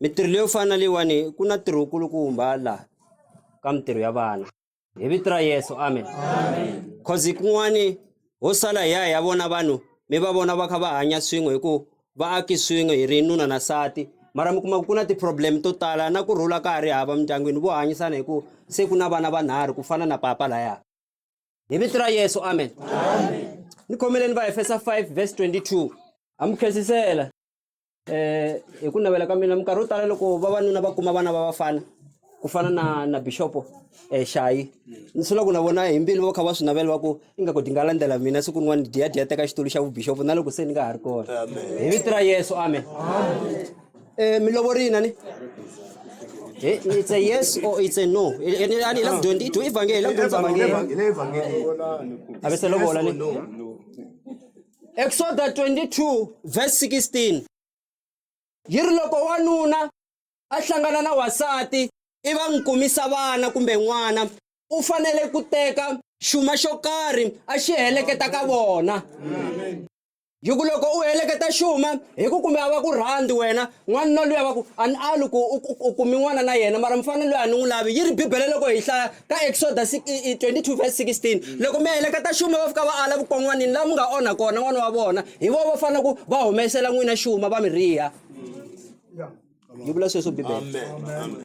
mintirho leyo fana na leyiwani ku na ntirho kulukumba laha ka mintirho ya vana hi vito ra yesu amen cause kun'wani ho sala hi ya hi ya vona vanhu mi va vona va kha va hanya swin'we hi ku va aki swin'we hi ri nuna na sati mara mi kuma ku ku na ti-problem to tala na ku rhula ka ha ri hava mindyangwini vo hanyisana hi ku se ku na vana vanharhu ku fana na papa laya hi vito ra yesu amen, amen. ni khomeleni va efesa 5 verse 22 amukhesisela Eh, hi ku navela ka mina minkarhi yo tala loko vavanuna va kuma vana va vafana ku fana na na bishopo eh, xayi ni sula ku na vona hi mbilu va kha va swi navela va ku ingaku ti nga landzela mina siku rin'wana diya diya teka xitulu xa vubishopo na loko se ni nga ha ri kona hi vito ra yesu amen um mi lovorile ni Eh, it's a yes or it's a no Eh, eh, ni- ani hi la ku dyondzi- do ivhangeli hi la ku dyondzisa vhangeli a ve se lovola ni Eksoda 22 verse 16 yi ri loko wanuna a hlangana na wasati i va n'wi kumisa vana kumbe n'wana u fanele ku teka xuma xo karhi a xi heleketa ka vona hi ku loko u heleketa xuma hi ku kumbe a va ku rhandi wena N'wanuna luya va ku a ni ali ku u kumi n'wana na yena mara mufana loyi a ni n'wi lavi yi ri bibele loko hi hlaya ka exoda 22 vs 16 loko mi heleketa xuma va fika va ala vukon'wanini laha mi nga onha kona n'wana wa vona hi vo va fanele ku va humesela n'wina xuma va mi riha yi vula sweswo bibele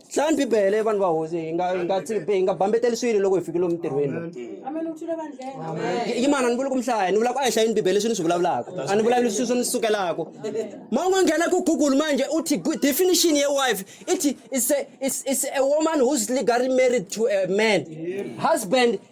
Hlayani Bibele, vanhu va hosi, hi nga hi nga tsi- hi nga bambeteli swilo loko hi fike lomu ntirhweni. Yi- Yimana, ni vuli ku mi hlaya, ni vula ku a hi hlayeni Bibele leswi ni swi vulavulaka. A ni vulavuli swilo swo ni sukelaka. Ma u nga nghena ku Google manje u thi gu- definition ya wife i thi is a, is, is a woman who's legally married to a man. Husband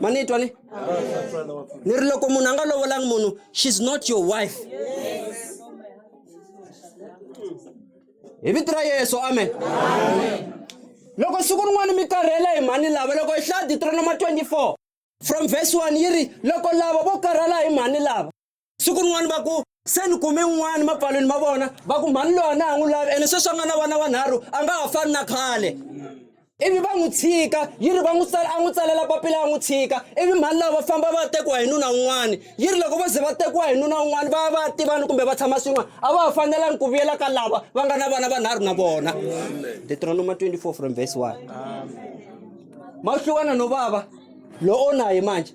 ma ni twa ni ni ri loko munhu a nga lovolangi munhu she's not your wife hi vito ra yesu amen loko siku rin'wana mi karhela hi mhani lava loko hi hlaya ditronoma 24 from verse 1 yi ri loko lava vo karhala hi mhani lava siku rin'wana va ku se ni kume un'wana mapfalweni ma vona va ku mhani loyi a na ha n'wi lavi ene sweswi a nga na vana wanharhu a nga ha fani na khale ivi va n'wi tshika yi ri va n'wi tsala a n'wi tsalela papila a n'wi tshika ivi mhani lava va famba va tekiwa hi nuna un'wana yi ri loko va ze va tekiwa hi nuna un'wana va ya va ya tivana kumbe va tshama swin'wana a va ha fanelangi ku vuyela ka lava va nga na vana vanharhu na vona deuteronoma 24 from verse 1 ma hlukana no vava lo onaye manje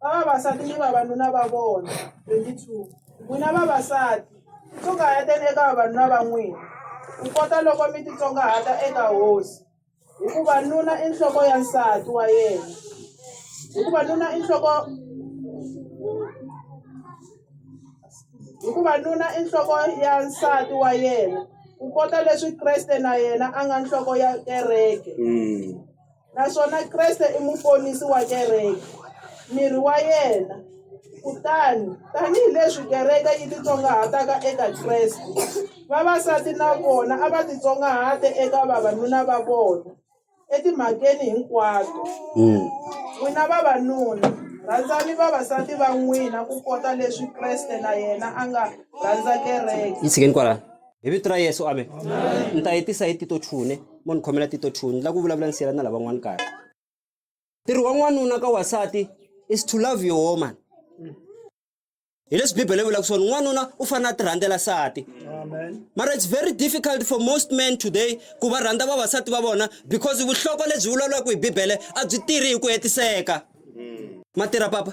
va vavasati ni vavanuna va vona 22 n'wina vavasati tsongaheteni eka vavanuna va n'wina ku kota loko mi titsongahata eka hosi hikuva nuna i nhloko ya nsati wa yena hikuva nuna i nhloko hikuva nuna i nhloko ya nsati wa yena ku kota leswi kreste na yena a nga nhloko ya kereke mm. Naswona Kreste i muponisi wa kereke, miri wa yena. Kutani, tanihi leswi kereke yi titsongahataka eka Kreste, vavasati na vona a va titsongahate eka vavanuna va vona etimhakeni hinkwato. N'wina vavanuna, rhandzani vavasati va n'wina kukota leswi Kreste na yena a nga rhandza kereke. hi vito ra yesu amen ni ta yi tisa hi tito chune mo ni khomela tito chune ni lava ku vulavula ni siyela na lavan'wana kahle ntirho wa n'wanuna ka wasati is to love your woman hi leswi bibele yi vulaka swona n'wanuna u fanele a ti rhandzela sati mara it's very difficult for most men today ku va rhandza vavasati va vona because vuhloko lebyi vulavulaka hi bibele a byi tirhi hi ku hetiseka ma tirha papa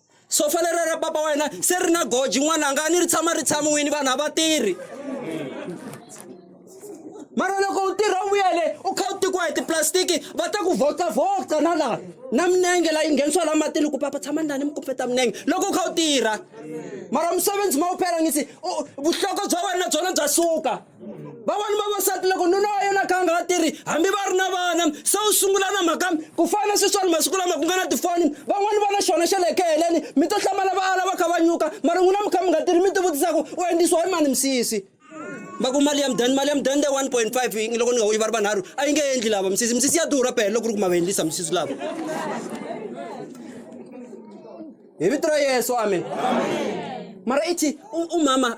sofa lera ra papa wena se ri na goji n'wananga a ni ri tshama ri tshamiwini vanhu a va tirhi mara loko u tirha u vuyele u kha u tikiwa hi tiplastiki va ta ku vocavoca na laha na minenge la yi nghenisiwa la matini ku papa tshama ndani mi kumpeta minenge loko u kha u tirha mara musebenzi ma wu phela ngisi vuhloko bya wena na byona bya suka vavanuna vavasati loko nuna wa yena kha a nga ha tirhi hambi va ri na vana se u sungula na mhaka ku fana sweswani masiku lama ku nga na tifoni van'wani va na xona xa le khe heleni mi to hlamala va ala va kha va nyuka mara n'wina mi kha mi nga tirhi mi tivutisaku u endlisiwa hi mani misisi va ku mali ya mudani mali ya mudani leyi one point five loko ni nga wuyi va ri vanharhu a yi nge endli lava misisi misisi ya durha pele loko ri ku ma va endlisa misisi lava hi vito ra yesu amen mara ithi umama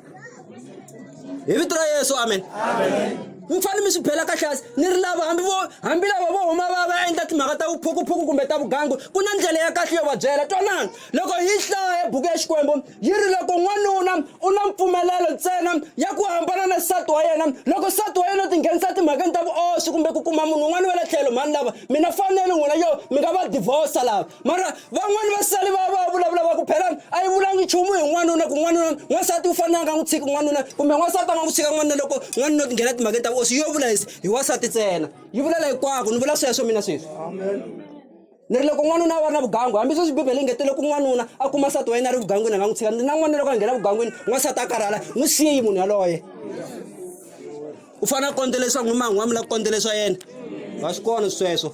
hi vito ra yesu amen mi fanele mi swi bela kahle hansi ni ri lava hambi vo hambi lava vo huma va va endla timhaka ta vuphukuphuku kumbe ta vugangu ku na ndlela ya kahle yo va byela twanani loko hi hlaya buku ya xikwembu yi ri loko n'wanuna u na mpfumelelo ntsena ya ku hambana na nsati wa yena loko nsati wa yena u tinghenisa timhakeni ta vuoswi kumbe ku kuma munhu un'wana wa le tlhelo mhani lava mina fanele n'wina yo mi nga va divorce lava mara van'wani va sali va va vulavula va ku phelani a yi vulangi nchumu hi n'wanuna ku n'wanuna n'wansati u fanele a nga n'wi tshiki n'wanuna kumbe n'wansati a nga n'wi tshika n'wanuna loko n'wanuna u tinghena timhakeni ta vuosi yo vula hi wansati ntsena yi vulela hikwako ni vula sweswo mina sweswi ni ri loko n'wanuna a va ri na vugangu hambi sweswi bibele yi ngetele loko n'wanuna a kuma nsati wa yena a ri vugangwini a nga n'wi tshika ni na n'wanuna loko a nghena vugangwini n'wansati a karhala n'wi siyi munhu yaloye u fanele a kondzela leswaku n'wi man'wamula ku kondzela swa yena wa swi kona sweswo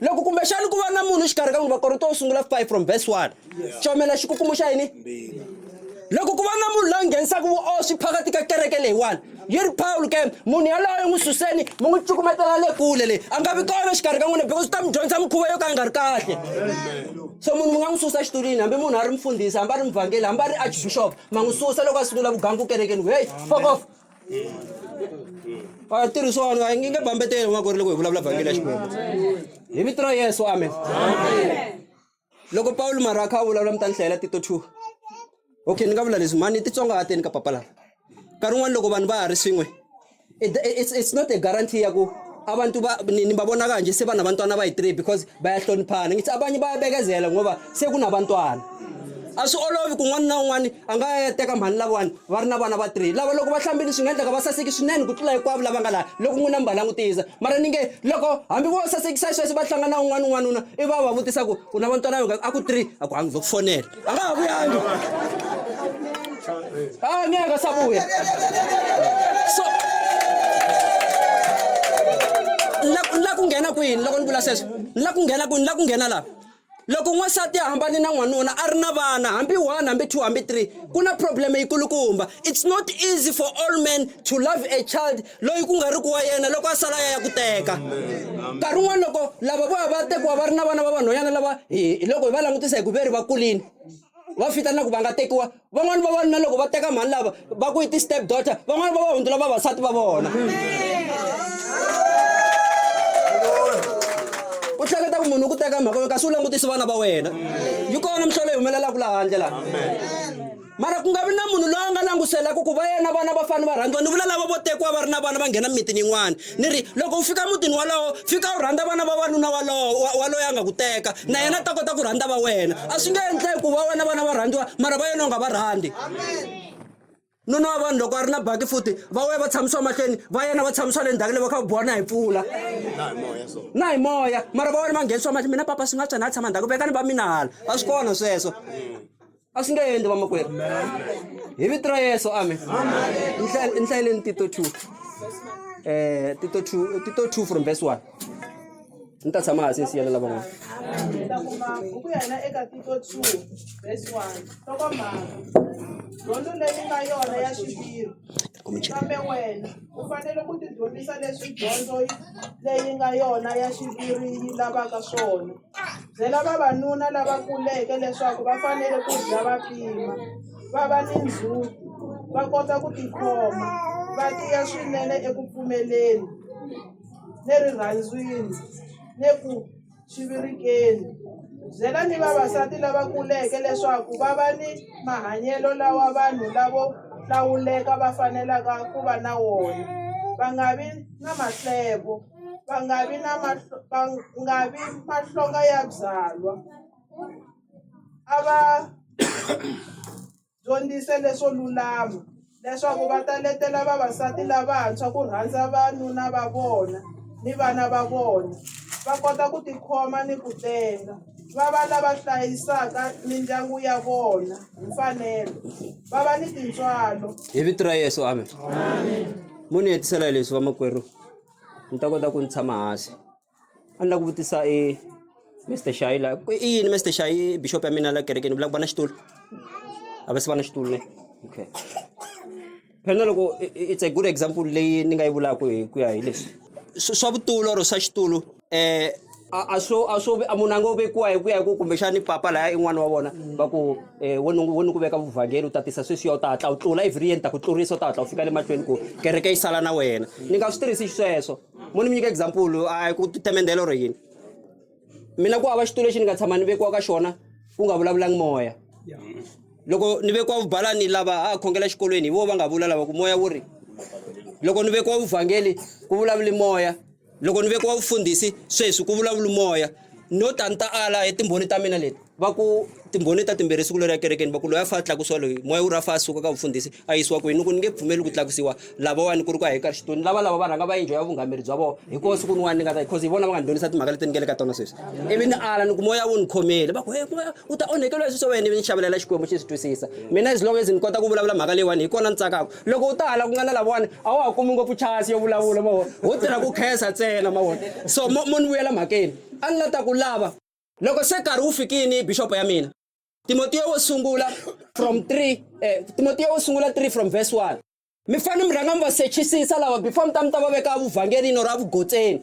loko kumbexani ku va na munhu xikarhi ka n'wi vakorinto wo sungula 5 from verse 1 comela xikukumuxo xa yini loko ku va na munhu loyi nghenisaka vuoswi phakati ka kereke leyiwani yi ri pawulo ke munhu yaloyo n'wi suseni mi n'wi cukumetela le kule leyi a nga vi kona xikarhi ka n'wina because u ta mi dyondza mikhuva yo ka yi nga ri kahle so munhu mi nga n'wi susa xitulwini hambi munhu a ri mfundhisi hambi a ri mvhangeli hambi a ri archbishop ma n'wi susa loko a sungula vugangu kerekeni heyi fokof a tirhisiwa vanhu nge bambeteli n'wa ku ri loko hi vulavula vhangeli ya xikwembu hi vito ra yesu amen loko pawulo mara a kha a vulavula mi ta ni hlayela tito two okay ni nga vula leswi mhani titsongahateni ka papa lava nkarhi wun'wani loko vanhu va ha ri swin'we it's not a guarantee ya ku abantu ba- ni- nibabona kanje sebanabantwana abayi-three because bayahloniphana ngithi abanye bayabekezela ngoba sekunabantwana a swi olovi ku n'wana na un'wana a nga ya teka mhani lavawani va ri na vana va three lava loko va hlambile swi nga endleka va saseki swinene ku tlula hinkwavo lava nga laha loko n'wina mi va langutisa mara ni nge loko hambi vo sasekisa sweswo va hlangana un'wana un'wanuna i va va vutisa ku u na vantwana a ku three a ku hangi zo ku fonela akavuyangi ah ngeke asabuya so la ku nghena kwini loko ni vula sweswo la ku nghena kwini la ku nghena laha loko n'wansati a hambane na n'wanuna a ri na vana hambi one hambi two hambi three ku na probleme yi kulukumba it's not easy for all men to love a child loyi ku nga ri ku wa yena loko a sala ya ya ku teka nkarhi un'wana loko lava vo va tekiwa va ri na vana va vanhwanyana lava hi loko hi va langutisa hi ku ve ri va kulini va fita na ku va nga tekiwa van'wani vavanuna loko va teka mhani lava va ku yi ti-step daughter van'wani va va hundzula vavasati va vona u hleketa ku munhu u ku teka mhaka kasi u langutisi vana va wena yi kona mihlolo yi humelelaka laha handle laha mara ku nga vi na munhu loyi a nga languselaka ku va yena vana va fane va rhandziwa ni vula lava vo tekiwa va ri na vana va nghena mimitini yin'wana ni ri loko u fika mutini walowo fika u rhandza vana va wanuna walowo wa loyi a nga ku teka na yena a ta kota ku rhandza va wena a swi nge endleki ku va wena vana va rhandziwa mara va yena u nga va rhandzi nuna wa vanhu loko a ri na baki futi va wena va tshamisiwa mahlweni va yena va tshamisiwa le ndzhaku le va kha va biwa na hi pfula na hi moya mara va wena va nghenisiwa mahlweni mina papa swi nga tswa na a tshama ndzhaku vekani va mina hala a swi kona sweswo a swi nge endli vamakwerhu hi vito ra yesu amen ni hlayeleni tito two um tito two tito two from verse one ni ta tshama hansi ni siyelela van'wana dyondzo leyi nga yona ya xiviri kambe wena u fanele ku tidyondzisa leswi dyondzo leyi nga yona ya xiviri yi lavaka swona Byela vavanuna lava kuleke leswaku va fanele ku dya va pima, va va ni ndzhuti, va kota ku tikhoma, va tiya swinene eku pfumeleni, le rirhandzwini, le ku chivirikeni. Byela ni vavasati lava kuleke leswaku va va ni mahanyelo lawa vanhu lavo hlawuleka va fanelaka ku va na wona, va nga vi na maslevo. va nga vi na va nga vi mahlonga ya byalwa a va dyondzisa leswo lulama leswaku va ta letela vavasati lavantshwa ku rhandza vanuna va vona ni vana va vona va kota ku tikhoma ni ku tenga va va lava hlayisaka mindyangu ya vona hi mfanelo va va ni tintswalo hi vito ra Yeso amen munhu hetisela hi leswi vamakwerhu. ni ta kota ku ni tshama hansi a ni la ku vutisa i Mister Xayi la ku i yini Mister Xayi i bixopo ya mina la kerekeni ni vula ku va na xitulu a va se va na xitulu ne okay phela na loko it's a good example leyi ni nga yi vulaka hi ku ya hi leswi swa vutomi or swa xitulu. eh a a swo a swo a munhu a ngo vekiwa hi ku ya hi ku kumbexani papa laya i n'wana wa vona va ku eh wo ni wo ni ku veka vuvhangeli u tatisa sweswiya u ta hatla u tlula every year ni ta ku tlurisa u ta hatla u fika le mahlweni ku kereke yi sala na wena ni nga swi tirhisi xisweswo mo ni mi nyika example a hi ku temendelo ro yini mina ku hava xitulu lexi ni nga tshama ni vekiwa ka xona ku nga vulavulangi moya loko ni vekiwa vubalani lava a khongela xikolweni hi vo va nga vula lava ku moya wu ri loko ni vekiwa vuvhangeli ku vulavuli moya loko ni vekiwa vufundhisi sweswi ku vulavula moya no ta ni ta ala hi timbhoni ta mina leti va ku timbhoni ta timbirhi siku leri ya kerekeni va ku loyi a fa a tlakusiwa loyi moya wu ri a fa a suka ka vufundhisi a yisiwa kwini ni ku ni nge pfumeli ku tlakusiwa lavawani ku ri ku a hi ka xitoni lava lava va rhanga va yindlo ya vungameri bya vona hi kona siku niwani ni nga ta because hi vona va nga ni dyondzisa timhaka leti ni nge le ka tona sweswi ivi ni ala ni ku moya wu ni khomele va ku he moya u ta onhekeliwa hi swilo swa wena ivi ni xavelela xikwembu xi swi twisisa mina as long as ni kota ku vulavula mhaka leyiwani hi kona ni tsakaka loko u ta hala ku nga na lavawani a wa ha kumi ngopfu chance yo vulavula ma vona ho tirha ku khensa ntsena ma vona so mo mo ni vuyela mhakeni a ni la ta ku lava loko se nkarhi wu fikini bixopo ya mina timotiyo wo sungula from 3 eh, timotiyo wo sungula 3 from verse 1 mi fanele mi rhanga mi va sechisisa lava before mi ta mi ta va veka vuvhangelini or avugotseni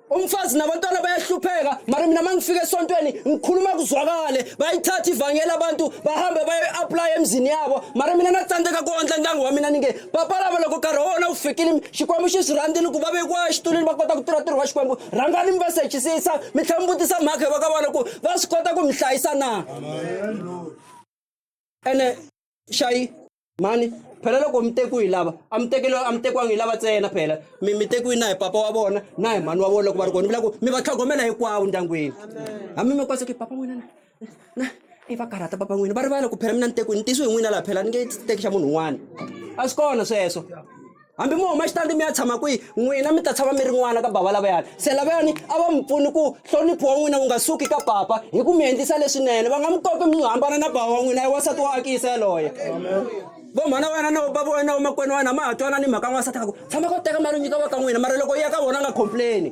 umfazi nabantwana bayahlupheka mara mina uma ngifika esontweni ngikhuluma kuzwakale bayithatha ivangeli abantu bahambe bayoyi-aplaya emzini yabo mara mina na tsandzeka ku ondla ndyangu wa mina ni nge papa lava loko nkarhi wa wona wu fikile xikwembu xi swi rhandzile ku va vekiwa exitulwini va kota ku tirha ntirho wa xikwembu rhangani mi va sechisisa mi tlhela mi vutisa mhaka va ka vona ku va swi kota ku mi hlayisa na ene xayi mani phela loko mi tekiwi hi lava a mi tekele a mi tekiwangi hi lava ntsena phela mi mi tekiwi na hi papa wa vona na hi mhani wa vona loko va ri kona mi la ku mi va tlhogomela hinkwawo ndyangwini hambi mi kwasa ku papa n'wina na na i va karhata papa n'wina va rivala ku phela mina ni tekiwi ni tisiwe hi n'wina laha phela ni nge teki xa munhu un'wana a swi kona sweswo hambi mo huma xitandi mi ya tshama kwihi n'wina mi ta tshama mi ri n'wana ka bava lavayani se lavayani a va mi pfuni ku hlonipho wa n'wina wu nga suki ka papa hi ku mi endlisa leswinene va nga mi kopi mi hambana na bava wa n'wina i wansati wa akisa yaloye vo mhana wa wena na bava wa wena wa makwenu wa wena ma ha twana ni mhaka n'wansati a ku tshama ko teka mali u nyika va ka n'wina mara loko yi ya ka vona a nga complaini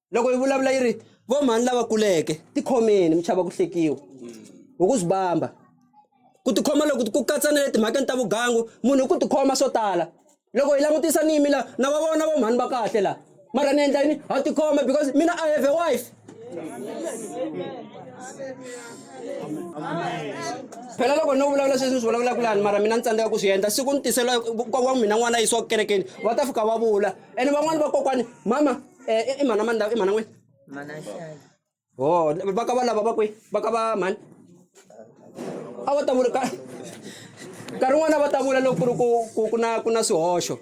loko yi vulavula yi ri vo mhani lava kuleke tikhomeni mi chava ku hlekiwa hi ku swi bamba ku tikhoma loko ku katsa na le timhakeni ta vugangu munhu hi ku tikhoma swo tala loko hi langutisa ni yimi la na va vona vo mhani va kahle la mara ni endla yini ha tikhoma because mina i have a wife phela loko no vulavula sweswi ni swi vulavulaka lani mara mina ni tsandzeka ku swi endla siku ni tisela kokwa mina n'wana yisiwa ku kerekeni va ta fika va vula ene van'wani vakokwani mama Eh, i mhana mani lava i mhana n'wini mana nxayi ho va ka va lava va kwi va ka va mhani a va ta vula ka nkarhi wun'wana va ta vula loko ku ri ku ku ku na ku na swihoxo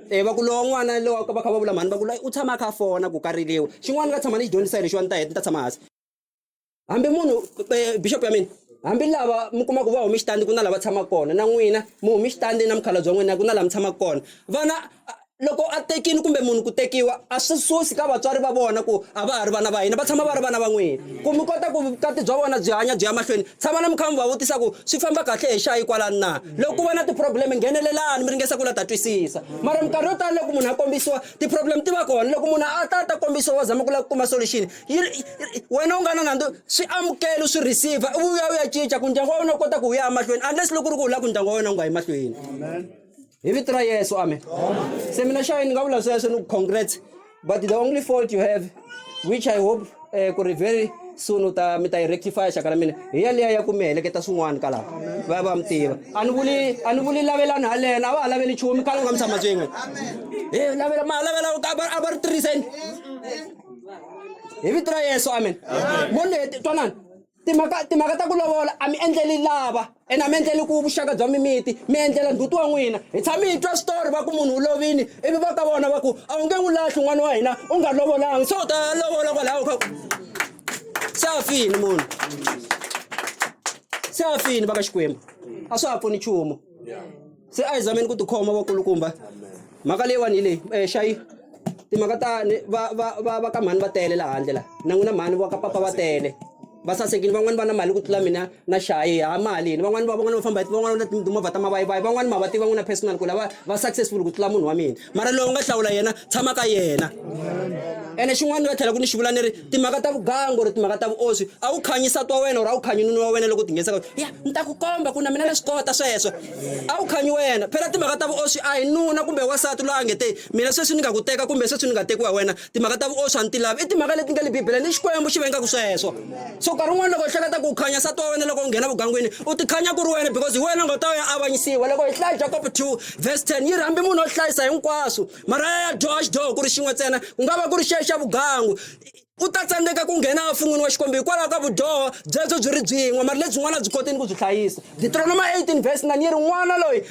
e va ku lowa n'wana lowa va kha va vula mhani va ku loyi u tshama a kha a fona ku kariliwa xin'wana ni nga tshama ni xi dyondzisa hi lexiwani ta heta ni ta tshama hansi hambi munhu eh, bishop ya mina hambi lava mi kuma ku va humi xitandi ku na lava tshamaka kona na n'wina mi humi xitandi na mukhalabye wa n'wina ku na lava mi tshamaka kona vana a- loko a tekini kumbe munhu ku tekiwa a swi susi ka vatswari va vona ku a va ha ri vana va hina va tshama va ri vana va n'wina ku mi kota ku vukati bya vona byi hanya byi ya mahlweni tshama na mi kha mi va vutisa ku swi famba kahle hi xayi kwalani na loko ku va na ti-problem nghenelelani mi ringesa ku la ta twisisa mara minkarhi yo tala loko munhu a kombisiwa ti-problem ti va kona loko munhu a ta a ta kombisiwa va zama ku lava ku kuma solution yi ri wena u nga na nandzu swi amukela swi receiver u vuya u ya cinca ku ndyangu wa wena u kota ku wu ya emahlweni unless loko ri ku u lava ku ndyangu wa wena u nga yi mahlweni hi vito ra yesu amen se mina xayi ni nga vula sweswo ni ku congrats but the only fault you have which i hope um ku ri very soon u ta mi ta yi rectifya xaka ra mina hi yaleya ya ku mi heleketa swin'wana ka lava va ya va mi tiva a ni vuli a ni vuli lavelani halena a va ha laveli nchumu khale u nga mi tshama swin'we hi lavela ma lavela a va ri tirhiseni hi vito ra yesu amen voni twanani timhaka timhaka ta ku lovola a mi endleli lava ene a mi endleli ku vuxaka bya mimiti mi endlela ndzhuti wa n'wina hi tshame hi twa switori va ku munhu u lovini ivi va ka vona va ku a wu nge n'wi lahli n'wana wa hina u nga lovolanga se u ta lovola kwalaho ka se a fini munhu se a fini va ka xikwembu a swa ha pfuni nchumu se a hi zameni ku tikhoma vakulukumba mhaka leyiwani hi leyi um eh, xayi timhaka ta va va va va ka mhani va tele laha handle laha na n'wina mhani va ka papa va tele va sasekile van'wani va na mali ku tlula mina na xayi ha mali yini van'wani va van'wani va famba hi van'wani va na timovha ta mavayivayi van'wani ma va tiva n'wina personal ku lava va successful ku tlula munhu wa mina mara loyi u nga hlawula yena tshama ka yena ene xin'wana ni nga tlhela ku ni xi vula ni ri timhaka ta vugangu or timhaka ta vuoswi a wu khanyi sati wa wena or a wu khanyi nuna wa wena loko tinghenisaka ya ni ta ku komba ku na mina na swi kota sweswo a wu khanyi wena phela timhaka ta vuoswi a hi nuna kumbe wasati loyi a nge te mina sweswi ni nga ku teka kumbe sweswi ni nga tekiwa hi wena timhaka ta vuoswi a ni ti lavi i timhaka leti nga le bibeleni i xikwembu xi vengaka sweswo so nkarhi wun'wana loko hi hleketa ku khanya sati wa wena loko u nghena vugangwini u tikhanya ku ri wena because hi wena nga ta ya avanyisiwa loko hi hlaya jakob 2 verse 10 yi ri hambi munhu o hlayisa hinkwaswo mara ya ya dyoha xidyoho ku ri xin'we ntsena ku nga va ku ri xexa vugangu u ta tsandzeka ku nghena efun'wini wa xikwembu hikwalaho ka vudyoho byebyo byi ri byin'we mara lebyin'wana a byi kotini ku byi hlayisa deuteronoma 18 verse 9 yi ri n'wana loyi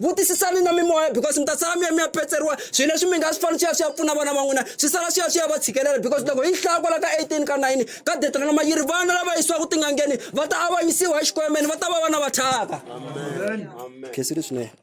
vutisisani na mimoya because mi ta sala mi ya mi ya petseriwa swilo leswi mi nga swi fanele swi ya swi ya pfuna vana va n'wina swi sala swi ya swi ya va tshikelela because loko yi hlaya kwala ka 18 ka 9 ka detranoma yi ri vana lava yisiwaka tin'angeni va ta avanyisiwa hi xikwemeni va ta va vana va thyaka khensile swinene